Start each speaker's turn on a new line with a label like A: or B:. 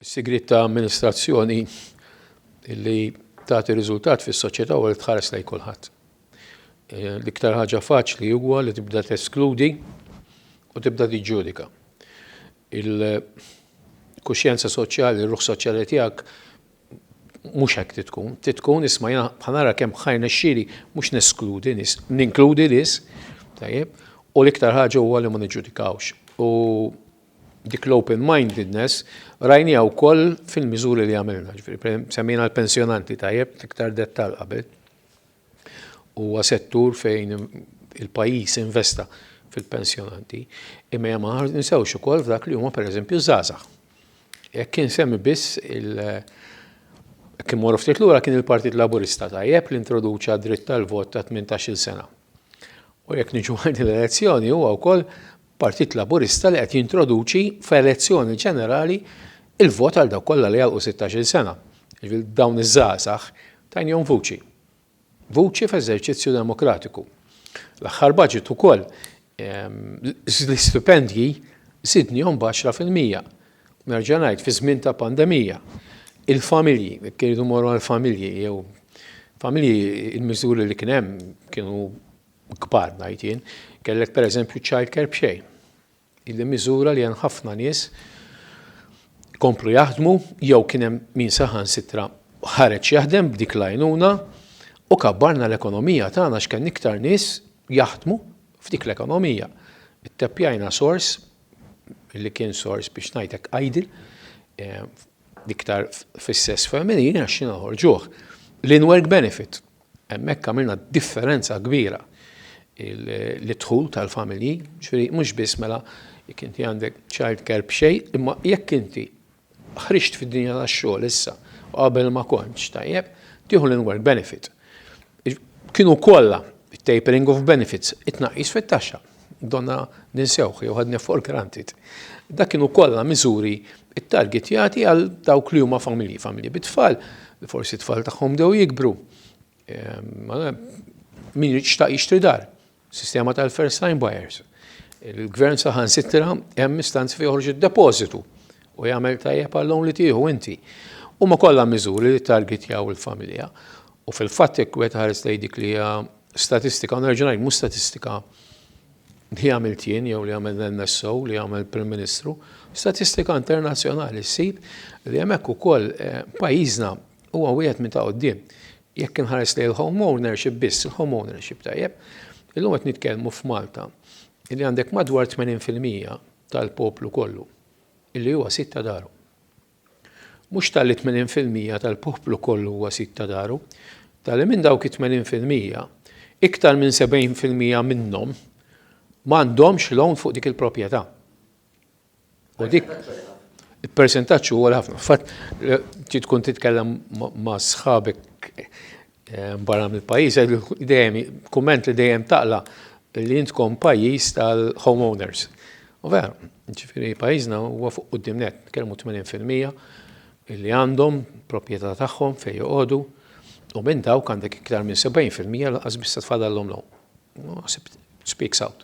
A: Sigriet ta' amministrazzjoni li tagħti riżultat fis-soċjetà u li tħares lejn kulħadd. L-iktar ħaġa faċli huwa li tibda teskludi u tibda tiġġudika. Il-kuxjenza soċjali, r-ruħ soċjali tiegħek mhux hekk trid tkun. Trid tkun isma' jiena bħanara kemm ħajr nexxieli mhux neskludi nies, ninkludi nies, tajjeb, u l-iktar ħaġa huwa li ma niġġudikawx. U Dik l-open-mindedness rajniha wkoll fil-miżuri li għamilna, ġifieri semmejna l-pensjonanti tajjeb f'iktar dettall qabel. Huwa settur fejn il-pajjiż investa fil-pensjonanti, imma hemm aħar ninsewx ukoll f'dak li huma pereżempju żgħażagħ. Jekk kien semmi biss il- kien morru ftit lura kien il-Partit Laburista tajjeb li introduċa dritt tal-vot ta' 18-il sena. U jekk niġu għand l-elezzjoni huwa wkoll Partit Laburista li qed jintroduċi f'elezzjoni ġenerali il-vot għal dawk kollha li jagħlqu sittax-il sena, jiġifieri dawn iż-żgħażagħ, tajnihom vuċi. Vuċi f'eżerċizzju demokratiku. L-aħħar budget ukoll l-istipendji żidnihom b'għaxra fil-mija. Nerġa' ngħid fi żmien ta' pandemija. Il-familji, jekk iridu mmorru għall-familji jew familji il-miżuri li kien hemm kienu kbar ngħid jien, kellek pereżempju ċ-childcare b'xejn. Illi miżura li hemm ħafna nies komplu jaħdmu jew kien hemm min saħansitra ħareġ jaħdem b'dik l-għajnuna u kabbarna l-ekonomija tagħna għax kien iktar nies jaħdmu f'dik l-ekonomija. Itteppjajna sors li kien sors biex ngħidlek idle eh, iktar fis-sess femminili għax xi noħorġuh. L-in-work benefit Hemmhekk għamilna differenza kbira l-dħul tal-familji, ġifieri mhux biss mela jekk inti għandek childcare b'xejn, imma jekk inti ħriġt fid-dinja tax-xogħol issa u qabel ma kontx tajjeb, tieħu l-in-work benefit. Kienu kollha, it-tapering of benefits, it-tnaqqis fit-taxxa. Donna ninsewh jew ħadni for granted. Dak kienu kollha miżuri ttargetjati għal dawk li huma familji, familji bit-tfal, li forsi t-tfal tagħhom dew jikbru. Ehm, min jixtaq jixtri dar, sistema tal-first time buyers. Il-gvern saħan sitra hemm istanzi fi joħroġ id-depożitu u jagħmel tajjeb għallhom li tieħu inti. Huma kollha miżuri li targetjaw il-familja. U fil-fatt jekk wieħed ħares lejn dik li hija Statistika, u nerġa' ngħid mhux statistika li għamilt jien jew li għamel l-NSO li għamel Prim Ministru, statistika internazzjonali ssib li hemmhekk ukoll eh, pajjiżna huwa wieħed minn ta' quddiem. Jekk inħares li l-home ownership biss, il-home ownership tajjeb, illum qed nitkellmu f'Malta li għandek madwar 80% tal-poplu kollu illi huwa sitta daru. Mhux talli tmenin fil-mija tal-poplu kollu huwa sid ta' daru, talli minn dawk it-tmenin fil-mija, iktar minn sebgħin fil-mija minnhom m'għandhomx loan fuq dik il-proprjetà. U dik il-persentaġġ huwa għoli ħafna. Fatt, trid tkun titkellem ma' sħabek barra mill-pajjiż, dejjem kumment li dejjem taqla li intkom pajjiż tal-homeowners. U vera, ġifieri pajjiżna huwa fuq quddiem net, kelmu 80% li għandhom proprjetà tagħhom fejn joqogħdu u minn dawk għandek iktar minn 70% lanqas biss tfadallhom l-home. Naħseb speaks out.